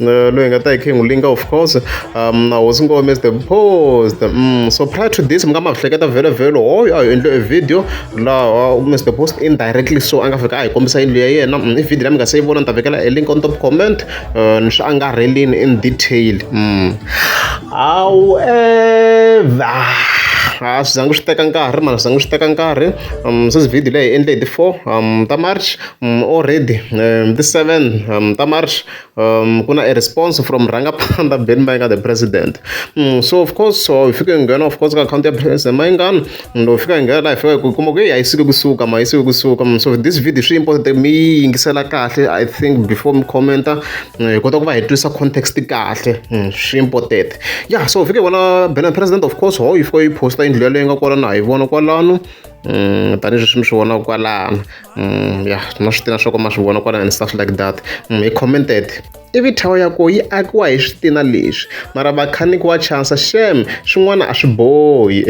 uh, loyi nga ta hi khe ngulinga of course um na hosi ngome the post um so prior to this mi nga ma hleketa vhele vhele hoyo a hi endle e video laha uh, mr post indirectly so a nga fika a hi kombisa yindlu ya yena mm, i video la mi nga se yi vona ni ta vekela e link on top comment uh, ni swi angarhelini in detail mm. however a swi zangi swi teka nkarhi mara swi zangi swi teka nkarhi um sweswi video leyi hi endle hi ti-four um ta march Already hi ti seven ta March ku na e response from rhangaphandza Benny Mayengani the president so of course so hi fike hi nghena of course ka akhawunti ya president Mayengani and hi fika hi nghena laha hi fika hi kuma ku heyi a yi suki kusuka ma yi suki kusuka so this video swi important mi yi yingisela kahle I think before mi comment-a hi kota ku va hi twisa context kahle swi important ya so hi fike hi vona Benny president of course ho yi fika yi posta yindlu yaleyo nga kwala na ha yi vona kwalano tanihileswi mi swi vonaka kwalano Mm, ya ma swi tina swa ku ma swi vona kwalana and stuff like that mm, he commented ivi thawa ya ko yi akiwa hi switina leswi mara vakhaniki wa chansa xem swin'wana a swi bohi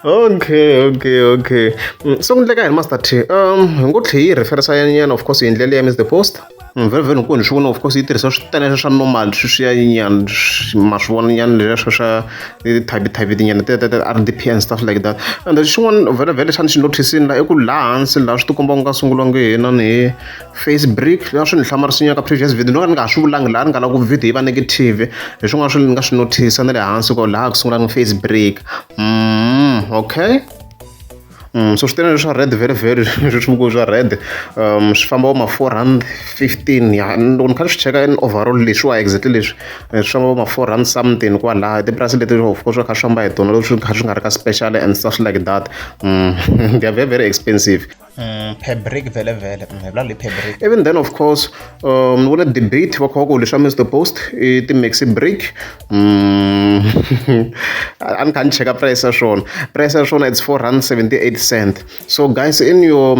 okay okay okay mm, so ku endleka hi master t um hi ngo tlhe yi referisa yanyana of course hi ndlela ya miss the post Mm, very very nkulu swi vona of course yi tirhisa swi taleswa swa normal sweswiyayinyana ma swi vona nyana leswa swa ti-type type tinyana r d p and stuff like that and xin'wana vhele vhele xana xi noticini la i ku laha hansi laha swi tikomba ku nga sungula nge hina ni hi face break laha swi ni hlamarisinya ka previous video ni nga ni nga ha swi vulangi laha ni nga lava ku video yi va negative hi swin'wana swi ni nga swi notice na le hansi ko laha ku sungula ni face break mm, okay so swi tele leswi swa red very very leswi swi vikiwaka swa red um swi famba vo ma four rand fifteen ya loko ni kha ni swi cheka in overall leswiwa exactly leswi swi famba vo ma four rand something kwalaho i tipurasi leti of course swi kha swi famba hi tona loko swi kha swi nga ri ka special and stuff like that they are very very expensive per brick vhele vhele hi vula leyi per brick even then of course um ni vone debate va kha va ku leswi swa mr post i ti-maxi brick a ni kha ni cheka price ya swona price ya swona it's 478 cent so guys in your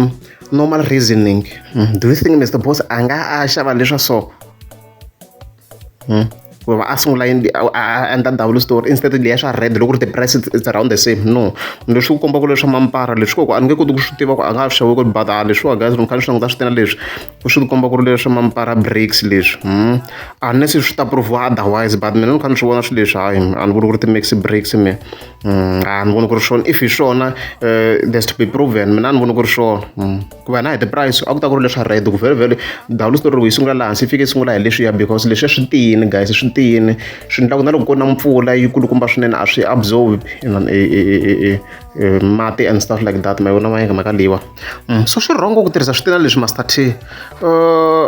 normal reasoning hmm, do you think mr boss a nga a xava leswa so hmm? ku va a sungula a endla ndhawu le store instead leya swa red loko ri ti-price it's around the same no leswi ku kombaka leswa mampara leswi koko a ni nge koti ku swi tiva ku a nga ha xavi ku but a leswiwa guys ni kha ni swi languta swi tena leswi u swi komba ku ri leswi mampara breaks leswi hmm? unless swi ta proviwa otherwise but mina ni kha ni swi vona swi leswi hayi a ni voni ku ri ti-max breaks me hmm, a ni voni ku ri swona if hi swona eh, there's to be proven mina a ni voni ku ri swona hmm. ku va na hi ti-price a ku ta ku ri leswa red ku vhele vhele dawulo story yi sungula laha hansi fike sungula hi leswiya because leswiya swi tiyini guys swi tiyini swi endla ku na loko ku na mpfula yi kulukumba swinene a swi absorb eh, eh, mati and stuff like that ma yi vona ma yinga maka leyiwa Mm, so swi wrong ku tirhisa switina leswi master t uh,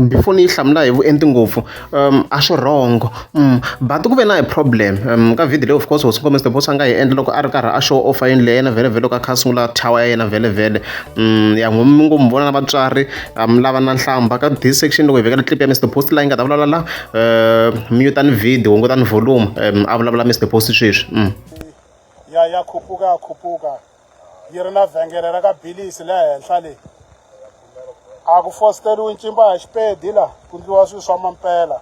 before ni yi hlamula hi vuenti ngopfu um a swi wrong mm, but ku ve na hi problem um, ka video leyi of course hosi nkombe stebosa a nga yi endla loko a ri karhi a show offa yini leyi yena vhele vhele loko a kha a sungula tower ya yena vhele vhele um ya ngo mi ngo mi vona na vatswari um lava na nhlamba ka this section loko hi vekela clip ya mr post la yi nga ta vulavula la um mutani video hungutani volume um a vulavula mr post sweswi mm. ya ya khupuka khupuka yi ri na vhengele ra ka bilisi le henhla leyi a ku fositeriwi ncimba ya xipedi la ku ndliwa swilo swa mampela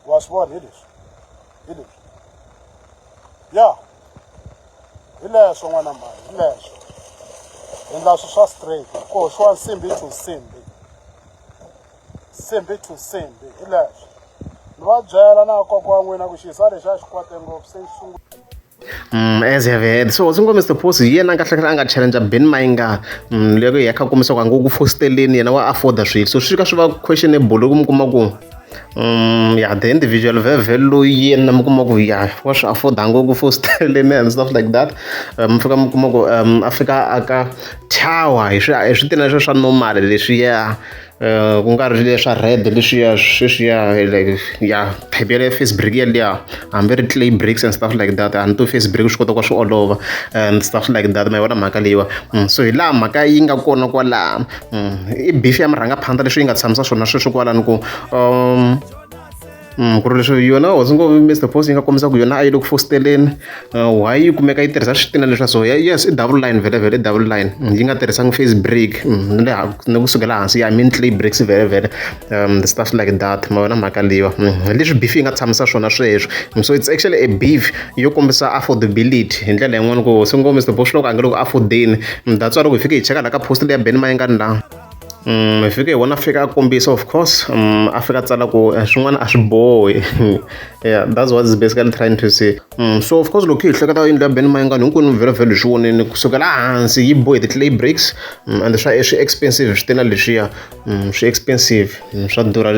wa swi vona hi leswi hi leswi ya hi leswo n'wana mhani hi leswo endla swilo swa straight ko swiwa nsimbi to nsimbi nsimbi to nsimbi hi leswo ni va byela na kokwa n'wina ku xisa lexi a xi kwate ngopfu se xi sungula Mm, as have heard so ndzi ngo mr posi hi yena kahlekahle a nga challenge ben mayingana mm, loko hi ya kha kumisa ka ngo ku fosteleni yena wa afforda swilo so swi ka swi va questionable loko mi kuma ku um ya the individual vhevhe loyi yena mi kuma ku ya wa swi afforda ngo ku fosteleni and stuff like that eh, mi fika mi kuma ku um a fika aka tower hi swi hi swi tina leswi swa normal leswi ya eh, ku nga ri leswa red leswiya sweswiya like ya phephe ya face break yaliya hambi ri clay breaks and stuff like that hambi to face break swi kota ku swi olova and stuff like that ma yi vona mhaka leyiwa mm, so hi laha mhaka yi nga kona kwalaha mm, i beef ya murhangaphandza leswi yi nga tshamisa swona sweswi kwalani ku um Mm, ku ri leswi yona hosi ngo mr post yi nga kombisa ku yona a yi le ku fositeleni uh, why yi kumeka yi tirhisa switina leswa so yes i double line vhele vhele double line mm, yi nga tirhisangi face break mm, ni ku sukela hansi ya min clay breaks vhele vhele um the stuff like that ma yona mhaka leyiwa leswi beef yi nga tshamisa swona sweswo so it's actually a beef yo kombisa affordability hi ndlela yin'wana ku hosi ngo mr post loko a nge loko affordeni that's why loko hi fike hi cheka la ka post leya ben mayengani laha mi fike hi vona fika a kombisa of course um, a fika a tsala ku eh, swin'wana a swi bohi yeah that's what is basically trying to say um, so of course loko hi hleketa yindlu ya ben mayingani hinkwenu vhelovhelo hi swi voneni kusukela hansi yi bohe ti-clay breaks um, and swa swi expensive swi tena leswiya um, swi expensive um, swa durha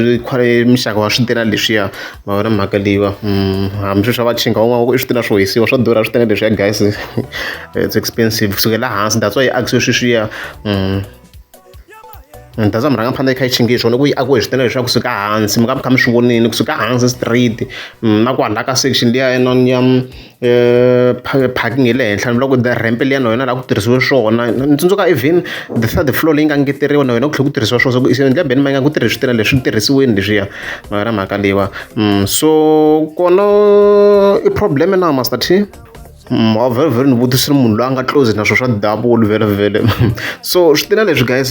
mixaka wa swi tena leswiya ma vona mhaka leyiwa um, hambi swi swa va chinga van'wana i swi tena swo hisiwa swa durha swi tena leswiya guys it's expensive kusukela hansi that's why yi akisiwe sweswiya um, ni ta za mi rhanga mi fanekele kha yi chingiyi swona ku yi akiwe hi switendele leswaku kusuka hansi mi ka mi kha mi swi vonile kusuka hansi street mm, na ku hala ka section liya yinani ya mm, eh, parking ya le henhla ni vula ku the ramp liya na yona laha ku tirhisiwe swona ni tsundzuka even the third floor leyi nga ngeteriwa na yona ku tlhela ku tirhisiwa swona so endla beni ma yi nga ku tirhisa switendele leswi tirhisiweni leswiya na yona mhaka leyiwa mm, so kona i problem na master t mavhele ni vutisa munhu loyi a nga close na swona swa ndhavuko wo luvela vhele so swi tiva leswi guys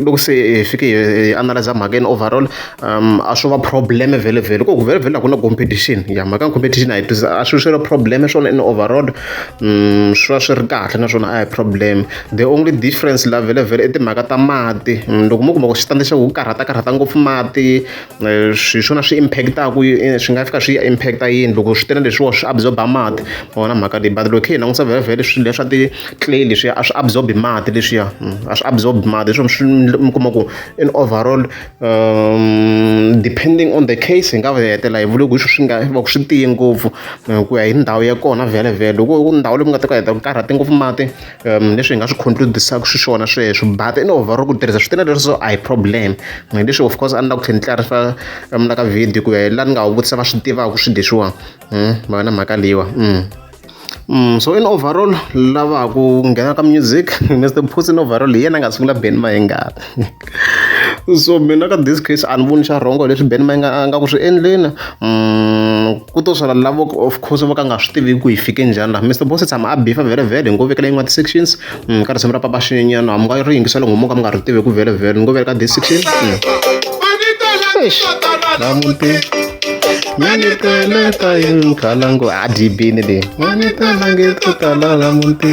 loko se hi fike hi analyze mhaka yini overall a swo va problem vhele vhele ku vhele vhele a ku na competition ya mhaka ya competition a yi tisa a swi swi ri problem swona in overall swi va swi ri kahle naswona a hi problem the only difference la vhele vhele i timhaka ta mati loko mo kuma ku xitandi xa ku karhata karhata ngopfu mati Eh, swi swona swi impactaku eh, swi nga fika swi ya impacta yini loko swi tele leswiwa swi absorba mati vona mhaka leyi but loko khe hi langusa vhelavhele swilo leswa ti-clay leswiya a swi absorbi mati leswiya hmm, a swi absorbi mati leswi swi mi kuma ku in overall um, depending on the case hi nga hetela hi vule ku swi swi nga va ku swi tiye ngopfu eh, ku ya hi ndhawu ya kona vhelavhele loko ndhawu leyi ku nga ta ka heta ku karhate ngopfu mati um leswi hi nga swi concludisaka xiswona sweswo but in over ku tirhisa swi tena leswo a hi problem hi leswi of course a ni la ku tlhe ni tlarisa um la ka video ku ya hi la ni nga wu vutisa va swi tivaka swi leswiwa hmm, va na mhaka leyiwa hmm. Mm, so in overall lava ku nghena ka music mr puss in overall hi yena a nga sungula beni va hi ngati so mina ka this case a ni voni xa rhongo leswi ben ma nga nga ku swi endleni mm, ku to swala lavo of course vo ka nga swi tivi ku yi fike njhani laha mr boss tshama a bifa vhele vhele hi ngo vekela yin'wana ti-sections mm, ka risimu ra papa xinyenyana a mi nga ri yingisela ngomo ka mi nga ri tivi ku vhele vhele ni ngo veka ka this section mm. namuti maniteleta yi khalangu a dibini leyi manitelange to tala namuti